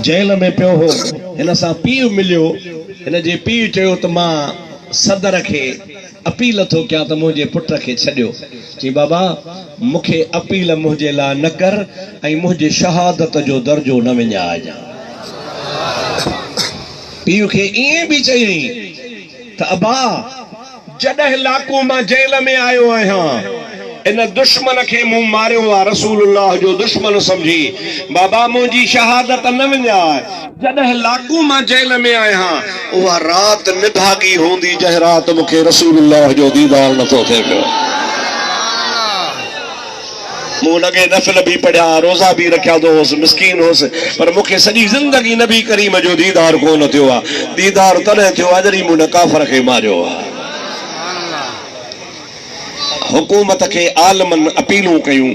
Jail ۾ پيو هو، هن سان پيء مليو، هن جي پيء چيو ته مان صدر کي اپيل ٿو ڪيان ته منهنجي پٽ کي ڇڏيو، چيائين بابا مون کي اپيل منهنجي لاء نه ڪر ۽ منهنجي شهادت جو درجو نه وڃائجان. پيء کي ائين به چيائين ته ابا! جڏهن لاڪو مان جيل ۾ آيو آهيان ان دشمن کي مون ماريو آ رسول الله جو دشمن سمجهي بابا منهنجي شهادت نه وڃاء. جڏهن لاڪو مان جيل ۾ آهيان اها رات نڀاڳي هوندي جنهن رات مونکي رسول الله جو ديدار نٿو ٿئي پيو. مون لڳي نفل به پڙهيا، روزا به رکيا ته هوس، مسڪين هوس، پر مون کي سڄي زندگي نبي ڪريم جو ديدار ڪونه ٿيو آ، ديدار تڏهن ٿيو آ جڏهن مون هن ڪافر کي ماريو آ. حڪومت کي عالمن اپيلون ڪيون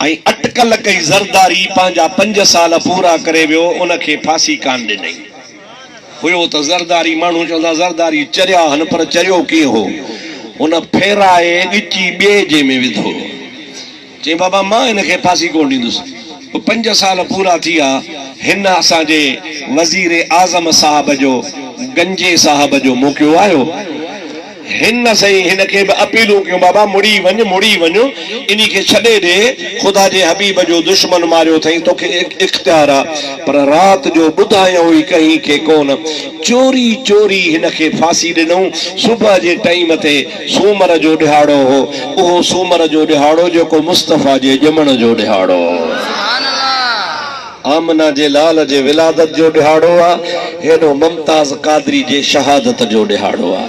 ۽ اٽڪل ڪئي، زرداري پنهنجا پنج سال پورا ڪري ويو، ان کي ڦاسي ڪانه ڏنئي. هيو ته زرداري ماڻهو چوندا زرداري چريا هن پر چريو ڪيئن هو هن ڦيرائي ڳچي ٻئي جي ۾ وڌو چيائين بابا مان هن کي ڦاسي ڪونه ڏيندس پنج سال پورا ٿيا هن اسان جي وزير اعظم صاحب جو گنجي صاحب جو موقعو آيو هن نه سائين هن کي به اپيلون ڪيون بابا مڙي وڃ مڙي وڃ انهي کي ڇڏي ڏي خدا جي حبيب جو دشمن ماريو اٿئي توکي اختيار آ پر رات جو ٻڌايائون ئي ڪنهن کي ڪونه چوري چوري هن کي ڦاسي ڏنئون صبح جي ٽائيم تي سومر جو ڏهاڙو هو اهو سومر جو ڏهاڙو جيڪو مصطفيٰ جي ڄمڻ جو ڏهاڙو هو. آمنه جي لال جي ولادت جو ڏهاڙو آ، هيڏو ممتاز قادري جي شهادت جو ڏهاڙو آ.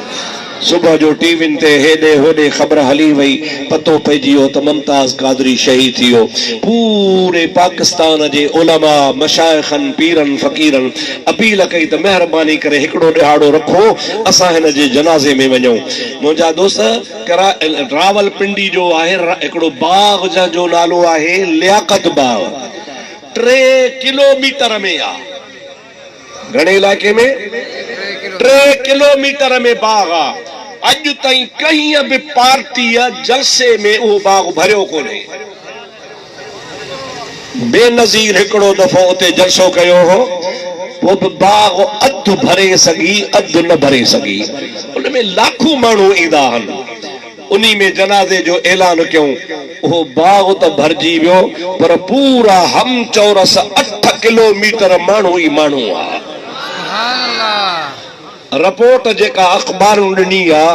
صبح جو ٽي وين تي هيڏي هوڏي خبر هلي وئي، پتو پئجي ويو ته ممتاز قادري شهيد ٿي ويو. پوري پاڪستان جي علماء، مشائخن، پيرن فقيرن اپيل ڪئي ته مهرباني ڪري هڪڙو ڏهاڙو رکو اسان هن جي جنازي ۾ وڃون. منهنجا دوست ڪرا راولپنڊي جو آهي هڪڙو باغ جنهن جو نالو آهي لياقت باغ. ٽي ڪلو ميٽر ۾ آ. گهڻي علائقي ۾ ٽي ڪلو ميٽر ۾ باغ آ. اڄ تائين ڪنهن به پارٽيء جلسي ۾ اهو باغ ڀريو ڪونهي. بينظير هڪڙو دفعو اتي جلسو ڪيو هو، پوء به باغ اڌ ڀري سگهي اڌ نه ڀري سگهي. ان ۾ لاکون ماڻهو ايندا هن. انهي ۾ جنازي جو اعلان ڪيون. اهو باغ ته ڀرجي ويو پر پورا هم چورس اٺ ڪلو ميٽر ماڻهو ئي ماڻهو هئا. رپورٽ جيڪا اخبارن ڏني ها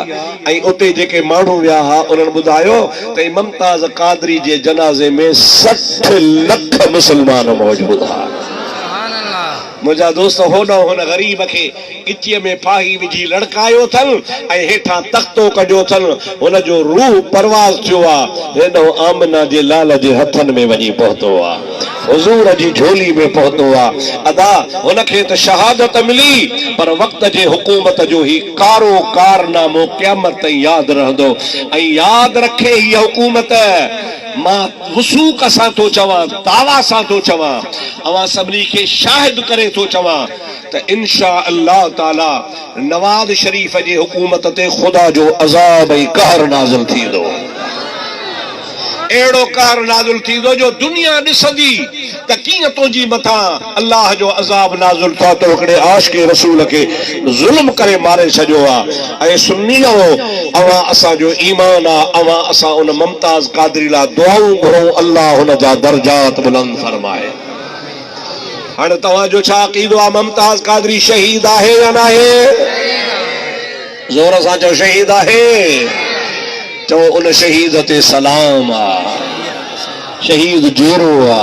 ۽ اتي جيڪي ماڻهو ويا ها انهن ٻڌايو ته ممتاز قادري جي جنازي ۾ سٺ لک مسلمان موجود هئا. منهنجا دوست هوڏانهن هن غريب کي ڳچيء ۾ ڦاهي وجهي لڙڪايو اٿن ۽ هيٺان تختو ڪڍيو اٿن. هن جو روح پرواز ٿيو آ. هيڏانهن آمنه جي لال جي هٿن ۾ وڃي پهتو آ. حضور جي جهولي ۾ پهتو آ. ادا هن کي ته شهادت ملي پر وقت جي حڪومت جو هي ڪارو ڪارنامو قيامت تائين ياد رهندو ۽ ياد رکي هيء حڪومت مان وثوق سان ٿو چوان، دعويٰ سان ٿو چوان، اوهان سڀني کي شاهد ڪري ٿو چوان، ته انشاء الله تعاليٰ نواز شريف جي حڪومت تي خدا جو عذاب ۽ قهر نازل ٿيندو. اهڙو قهر نازل ٿيندو جو دنيا ڏسندي ته ڪيئن تنهنجي مٿان الله جو عذاب نازل ٿو تو هڪڙي عاشق رسول کي ظلم ڪري ماري ڇڏيو آ. اي سنيو اوهان اسان جو ايمان آ اوهان اسان ان ممتاز قادري لا دعائون گهرون الله هن جا درجات بلند فرمائي. هاڻي توهان جو ڇا عقيدو آ ممتاز قادري شهيد آهي يا ناهي؟ زور سان چئو شهيد آهي؟ چئو ان شهيد تي سلام آ شهيد جيرو آ.